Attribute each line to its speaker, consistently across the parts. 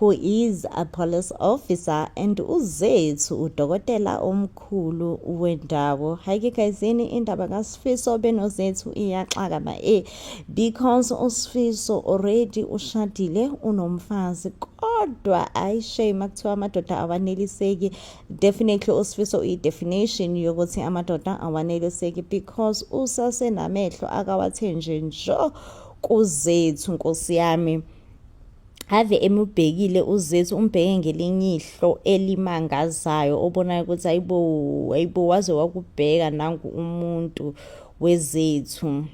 Speaker 1: who is a police officer and uzethu udokotela omkhulu wendawo hayike gayizini indaba kasifiso benozethu iyaxaka ba e because usifiso already ushadile unomfazi kodwa ayi shame kuthiwa amadoda awaneliseki definitely usifiso uyi-definition yokuthi amadoda awaneliseki because usasenamehlo akawathenje njo kuzethu nkosi yami ave emubhekile uzethu umbheke ngelinye ihlo elimangazayo obonayo ukuthi ayibo ayibo waze wakubheka nangu umuntu wezethu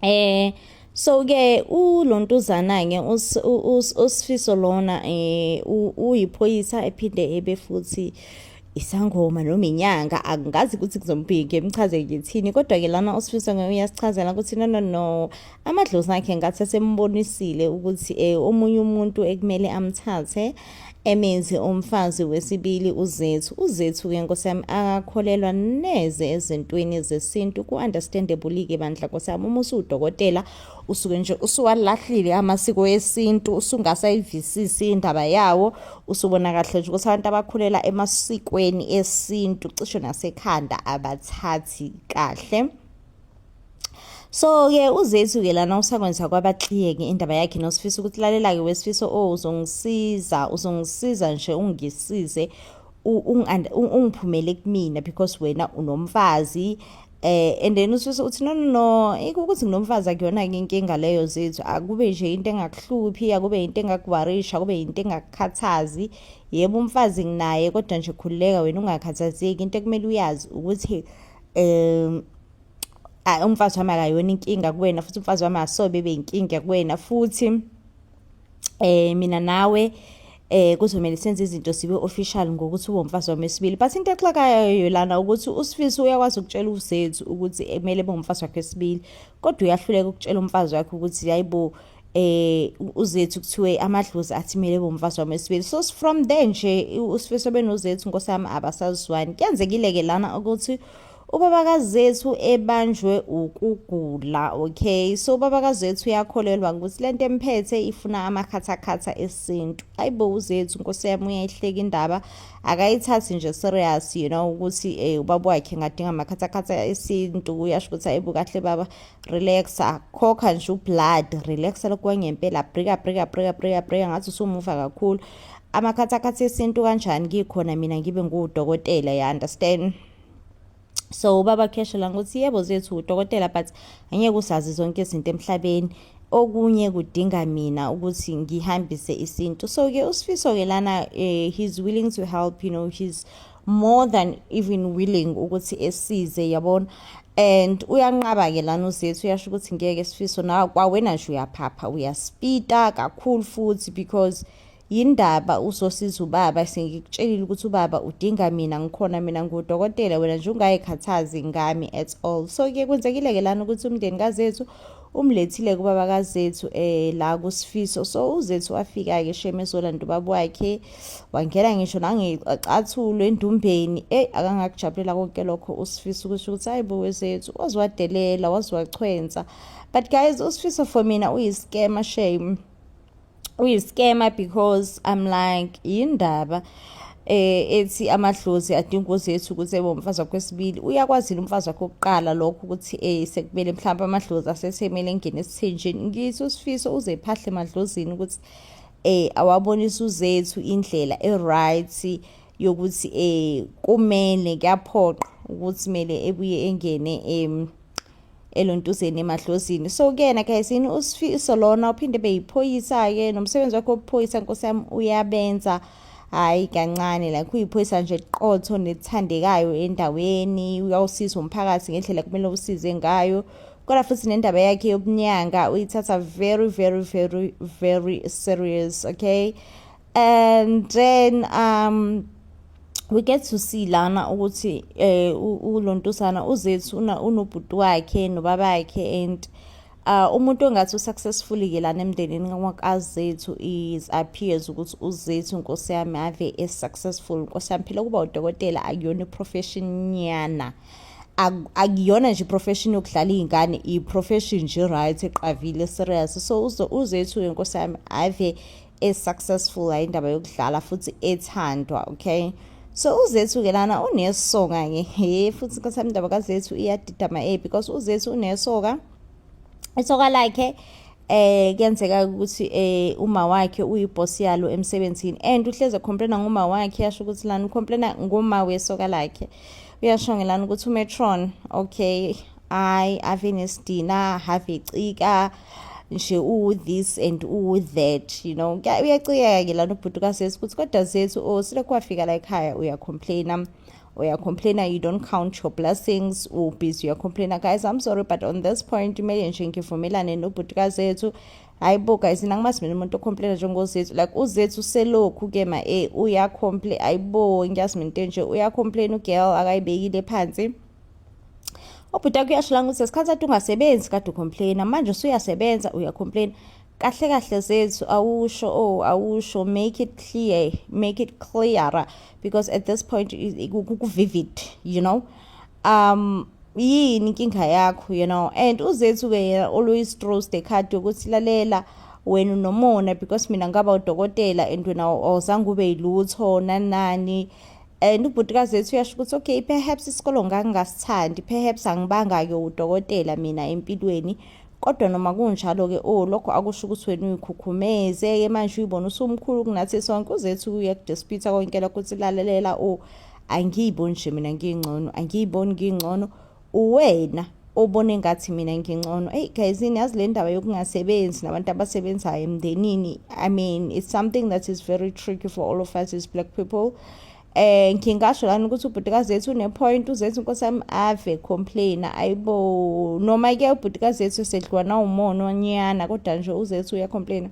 Speaker 1: eh so ke ulontuzana ke usifiso lona eh uyiphoyisa ephinde ebe futhi isangoma noma inyanga angazi ukuthi kuzombhiki emchaze ngithini kodwa-ke lana osifiso uyasichazela ukuthi no no no amadlozi akhe ngathi asembonisile ukuthi um omunye umuntu ekumele amthathe emenzi umfazi wesibili uzethu uzethu-ke nkosi yami akakholelwa neze ezintweni zesintu ku-understandable-ke bandla nkosi yami uma usuwudokotela usuke nje usuwalahlile amasiko esintu usungasayivisisi indaba yawo usubona kahle nje ukuthi abantu abakhulela emasikweni esintu cishe nasekhanda abathathi kahle so-ke uzethu-ke lana usakwenza kwabakliyeke indaba yakhe nosifisa ukuthi lalela-ke wesifiso o oh, uzongisiza uzongisiza nje ungisize ungiphumele kumina because wena unomfazi eh and then ususe uthi no no no ukuthi nginomfazi akuyona ke inkinga leyo zethu akube nje into engakuhluphi akube into engakuwarisha akube into engakukhathazi yebo umfazi nginaye kodwa nje khululeka wena ungakhathazeki into ekumele uyazi ukuthi um umfazi wami akayona inkinga kuwena futhi umfazi wami asobe beyinkinga kuwena futhi eh mina nawe eh kuzomele senze izinto sibe official ngokuthi uwomfazi wami wesibili but into exakayo lana ukuthi usifiso uyakwazi ukutshela uzethu ukuthi kumele bongumfazi wakhe wesibili kodwa uyahluleka ukutshela umfazi wakhe ukuthi yayibo eh uzethu kuthiwe amadlozi athimele bomfazi wami esibili so from there nje usifiso benozethu nkosami abasazwani kuyenzekile ke lana ukuthi Ubaba kaZethu ebanjwe ukugula okay so ubaba kaZethu uyakholelwa ukuthi lento emphethe ifuna amakhathakhatha esintu ayibo uZethu nkosi yami uyayihleka indaba akayithathi nje serious you know ukuthi eh ubaba wakhe ngadinga amakhathakhatha esintu uyasho ukuthi ayibo kahle baba relaxa khokha nje ublood relaxa lokwangempela brika brika brika brika brika ngathi usumuva kakhulu amakhathakhatha esintu kanjani ngikhona mina ngibe ngudokotela ya understand so ubaba kheshe la ngokuthi yebo zethu udokotela but angeke usazi zonke izinto emhlabeni okunye kudinga mina ukuthi ngihambise isintu so ke usifiso ke lana uh, he's willing to help you know he's more than even willing ukuthi esize yabona and uyanqaba ke lana uzethu uyasho ukuthi ngeke sifiso na kwawena nje uyaphapha uyaspita kakhulu futhi because Yindaba uzosiza ubaba sengikutshelile ukuthi ubaba udinga mina ngikhona mina ngudokotela wena nje ungayikhathazi ngami at all so ke kwenzekile-ke lana ukuthi umndeni kazethu umlethile kubaba kazethu eh la kusifiso so uzethu wafika-ke sheme ezolanda ubaba wakhe wangena ngisho nangecathulo endumbeni eyi akangakujabulela konke lokho usifiso kusho ukuthi hayi bo wezethu waziwadelela waziwachwensa but guys usifiso for mina uyiskema shame uyi-scammer because i'm like yindaba eh ethi amadlozi adinga ukuthi ethu ukuthi ebe umfazi wakho wesibili uyakwazi umfazi wakho oqala lokho ukuthi eh sekumele mhlawumbe amadlozi asethemele engene esithenjini ngithi usifiso uze ephahle emadlozini ukuthi eh awabonisa uzethu indlela e-right yokuthi eh kumele kuyaphoqa ukuthi kumele ebuye engene em elontuzeni emadlozini so kuyena gayisini usifiso lona uphinde beyiphoyisa-ke nomsebenzi wakhe wobuphoyisa nkosi yami uyabenza hhayi kancane like uyiphoyisa nje qotho nelithandekayo endaweni uyawusiza umphakathi ngendlela kumele usize ngayo kodwa futhi nendaba yakhe yobunyanga uyithatha very very very very serious okay and then um we get to see lana ukuthi eh ulontusana uzethu una unobhuti wakhe nobabakhe and uh umuntu ongathi usuccessful ke lana emndenini kaZethu is appears ukuthi uZethu inkosi yami ave is successful inkosi yami phela kuba udokotela akuyona iprofession nyana akuyona nje profession yokudlala izingane i profession nje right eqavile serious so uzethu inkosi yami ave e successful hayi indaba yokudlala futhi ethandwa okay so uzethu ke lana unesoka ke he futhi inkosi yami indaba kazethu iyadida ma e because uzethu unesoka isoka lakhe eh kuyenzeka ukuthi eh uma wakhe uyiboss yalo emsebenzini and uhleze complaina ngoma wakhe yasho ukuthi lana ucomplaina ngoma wesoka lakhe uyasho ngelana ukuthi umetron okay hayi ave nesidina have ecika nje uwu-this and uwu-that you know uyacikeka ke lana ubhuti kasesi ukuthi kodwa zethu o oh, silokhu wafika la ekhaya uyacomplaina uyacomplaina you don't count your blessings ubusy uyacomplaina guys i'm sorry but on this point kumele nje ngivumelane nobhuti kazethu hayi bo guys nina ngimazi mina umuntu ocomplaina njengozethu like uzethu uselokhu ke ma e uyacomplain hayi bo ngiyazi mina into enje uyacomplaina ugirl akayibekile phansi ubhuti wakho uyasho la ukuthi ngesikhathi ati ungasebenzi kade ucomplaina manje usuyasebenza uyacomplaina kahle kahle zethu awusho o oh, awusho make it clear make it clearer because at this point kuvivid you know um yini inkinga yakho you know and uzethu ke yena always throws the card yokuthi lalela wena unomona because mina ngaba udokotela and wena awuzange ube yilutho nanani and ubhutikazi wethu uyasho ukuthi okay perhaps isikolo ngangingasithandi perhaps angibanga-ke udokotela mina empilweni kodwa noma kunjalo-ke o oh, lokho akusho ukuthi wena uyikhukhumeze-ke manje uyibona usumkhulu kunathi sonke uzethu uye kudisputha konke lokho ukuthi lalelela o oh, angiyiboni nje mina ngiyingcono angiyiboni ngiyingcono uwena obone ngathi mina ngincono eyi guys yini yazi le ndaba yokungasebenzi nabantu abasebenzayo emndenini i mean it's something that is very tricky for all of us as black people eh ngingasho lana ukuthi ubhutikazi yethu unepoint uzethu inkosi yami ave complain ayibo noma ke ubhutikazi yethu sedliwa nawumona onyana kodwa nje uzethu uyacomplaina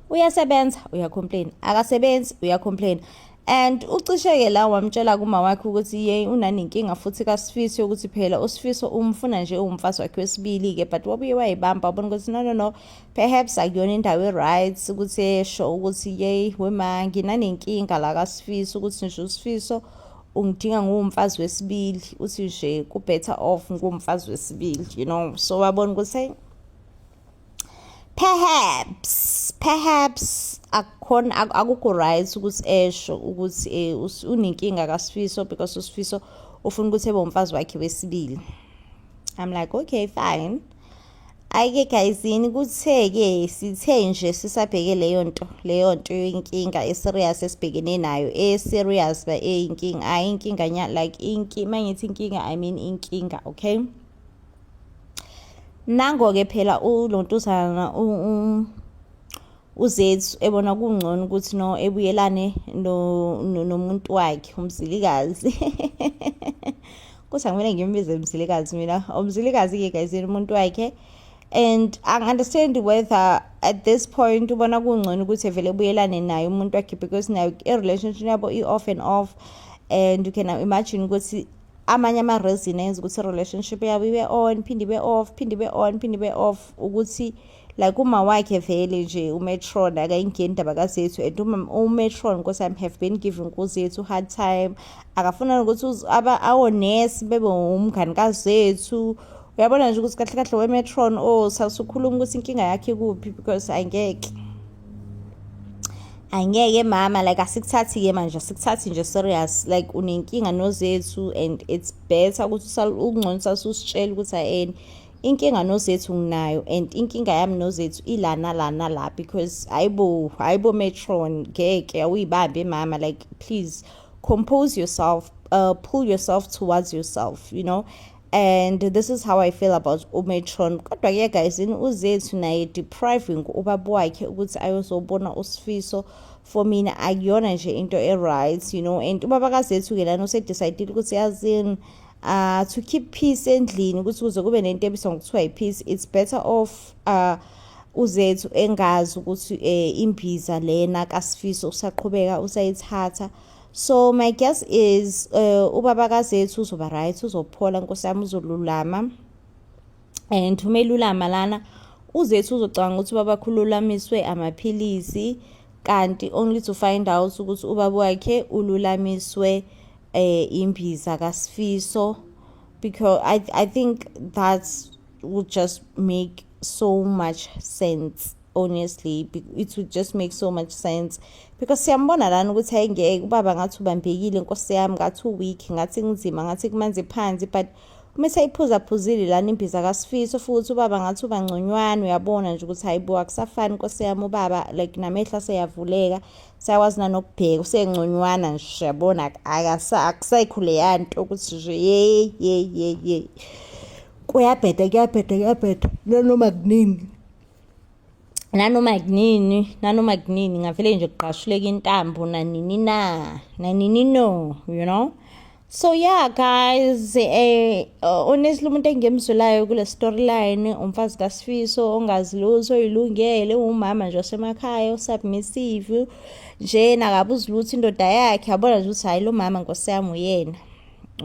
Speaker 1: uyasebenza uyacomplain akasebenzi uyacomplain and ucisheke la wamtshela kuma wakhe ukuthi ye unanenkinga futhi kasifisi ukuthi phela usifiso umfuna nje uwumfazi wakhe wesibili-ke but wabuye wayibamba wabona ukuthi no no no perhaps akuyona indawo e-right ukuthi esho ukuthi ye wema nginanenkinga la kasifisi ukuthi nje usifiso ungidinga nguwumfazi wesibili uthi nje ku-better off nguwumfazi wesibili you know so wabona ukuthi perhaps perhaps akukhona akukho right ukuthi esho ukuthi eh, unenkinga kasifiso because usifiso ufuna ukuthi ebe umfazi wakhe wesibili i'm like okay fine ayike gayizini kuthe-ke sithe nje sisabheke leyo nto leyo nto inkinga eserious esibhekene nayo eserious ba eyinkinga ayi inkinga like inki mangithi inkinga i mean inkinga okay nango-ke phela lo ntuzana uzethu ebona kungcono ukuthi no ebuyelane nomuntu wakhe umzilikazi kuthi angimele ngimbize umzilikazi mina umzilikazi-ke guys umuntu wakhe and angi-understand whether at this point ubona kungcono ukuthi evele ebuyelane naye umuntu wakhe because nayo i-relationship yabo i-off and off and you can imagine ukuthi amanye ama-resin enza ukuthi i-relationship yabo ibe on phinde ibe off phinde ibe on phinde ibe off ukuthi like uma wakhe vele nje umetron akayingeni indaba kazethu and umetron nkosi yami have been giving kuzethu hard time akafuna nokuthi awonesi bebe umngani kazethu uyabona nje ukuthi kahle kahle wemetron o oh, sasukhuluma ukuthi inkinga yakhe kuphi because angeke angeke mama like asikuthathi ke manje asikuthathi nje serious like unenkinga nozethu and it's better ukuthi ukungconisa ususitshela ukuthi ayeni inkinga nozethu nginayo and inkinga yami nozethu ilana lana la because hayibo hayibo metron ngeke awuyibambe mama like please compose yourself uh, pull yourself towards yourself you know and this is how i feel about umetron kodwa ke guys yini uzethu naye depriving ubaba wakhe ukuthi ayozobona usifiso for mina akuyona nje into e-right you know and ubaba kazethu ke lana usedecide ukuthi yazini uh, to keep peace endlini ukuthi kuze kube nento ebiswa ngokuthiwa yi-peace it's better off uh, uzethu engazi ukuthi um imbiza lena kasifiso usaqhubeka usayithatha so my guess is uh, ubaba kazethu uzoba right uzophola nkosi yami uzolulama and uma elulama lana uzethu uzocabanga ukuthi ubaba khululamiswe amaphilisi kanti only to find out ukuthi ubaba wakhe ululamiswe eh imbiza kaSifiso because I I think that's would just make so much sense honestly it would just make so much sense because siyambona lana ukuthi ayengeke ubaba ngathi ubambekile nkosi yami ngathi uweak ngathi kunzima ngathi kumanzi phansi but uma seyiphuzaphuzile lana imbiza kasifiso futhi ubaba ngathi uba ngconywana uyabona nje ukuthi hayibo akusafani nkosi yami ubaba like namehla seyavuleka sayakwazi nanokubheka usengconywana nje siyabona akusayikhule yanto ukuthi nje yey yey yey yey kuyabheda kuyabheda kuyabheda nanoma kuningi nanoma kunini nanoma kunini ngavele nje kugqashuleka intambo nanini na nanini no you know so yeah guys eh honestly umuntu engemzulayo kule storyline umfazi kaSifiso ongazi lutho ilungele umama nje osemakhaya usubmissive nje nakabuzi lutho indoda yakhe yabona nje ukuthi hayi lo mama nkosiyami uyena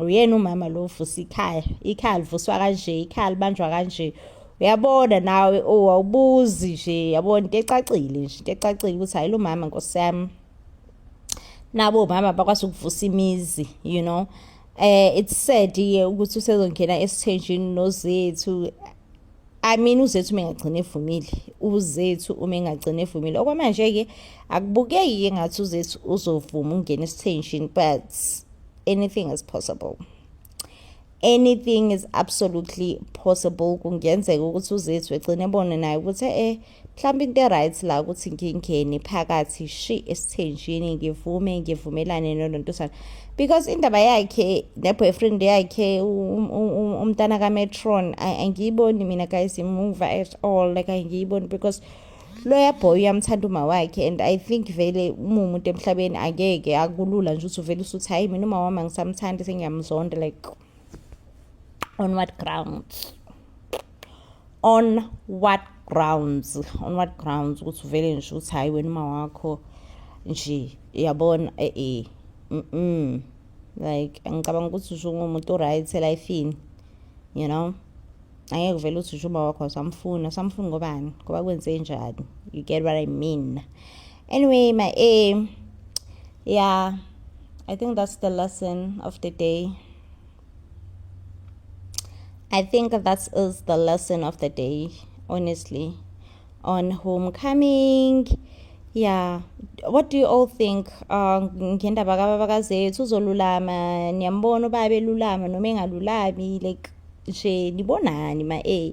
Speaker 1: uyena umama lo uvusa ikhaya ikhaya livuswa kanje ikhaya libanjwa kanje uyabona nawe owawubuzi nje yabona into ecacile nje into ecacile ukuthi hayi lo mama nkosi yami nabo mama bakwazi ukuvusa imizi you know eh it's sad ye ukuthi usezongena esithenjini nozethu I mean uzethu uma engagcina evumile uzethu uma engagcina evumile okwamanje-ke akubukeki-ke ngathi uzethu uzovuma ukungena esithenjini but anything is possible anything is absolutely possible kungenzeka ukuthi uzethu egcine ebone naye ukuthi e-e mhlawumbe into e-right la ukuthi ngingeni phakathi shi esithenjini ngivume ngivumelane nolontosana because indaba yakhe ne-boyfriend yakhe um, um, um, umntana kametron angiyiboni mina guys imuva at all like angiyiboni because loya boy uyamthanda uma wakhe and i think vele uma umuntu emhlabeni angeke akulula nje ukuthi uvele usuthi hhayi mina uma wami angisamthandi sengiyamzonda like on what grounds on what grounds on what grounds ukuthi uvele nje ukuthi hhayi wena uma wakho nje yabona e-e mm like ngicabanga ukuthi usho ungumuntu o-right elifini you know angeke uvele uthi ujuba wakho awusamfuni usamfuni ngobani ngoba kwenze njani you get what i mean anyway my a yeah i think that's the lesson of the day i think that is the lesson of the day honestly on homecoming yeah what do you all think uh, ngendaba kababa kazethu uzolulama niyambona ubaba elulama noma engalulami like nje nibonani ma-a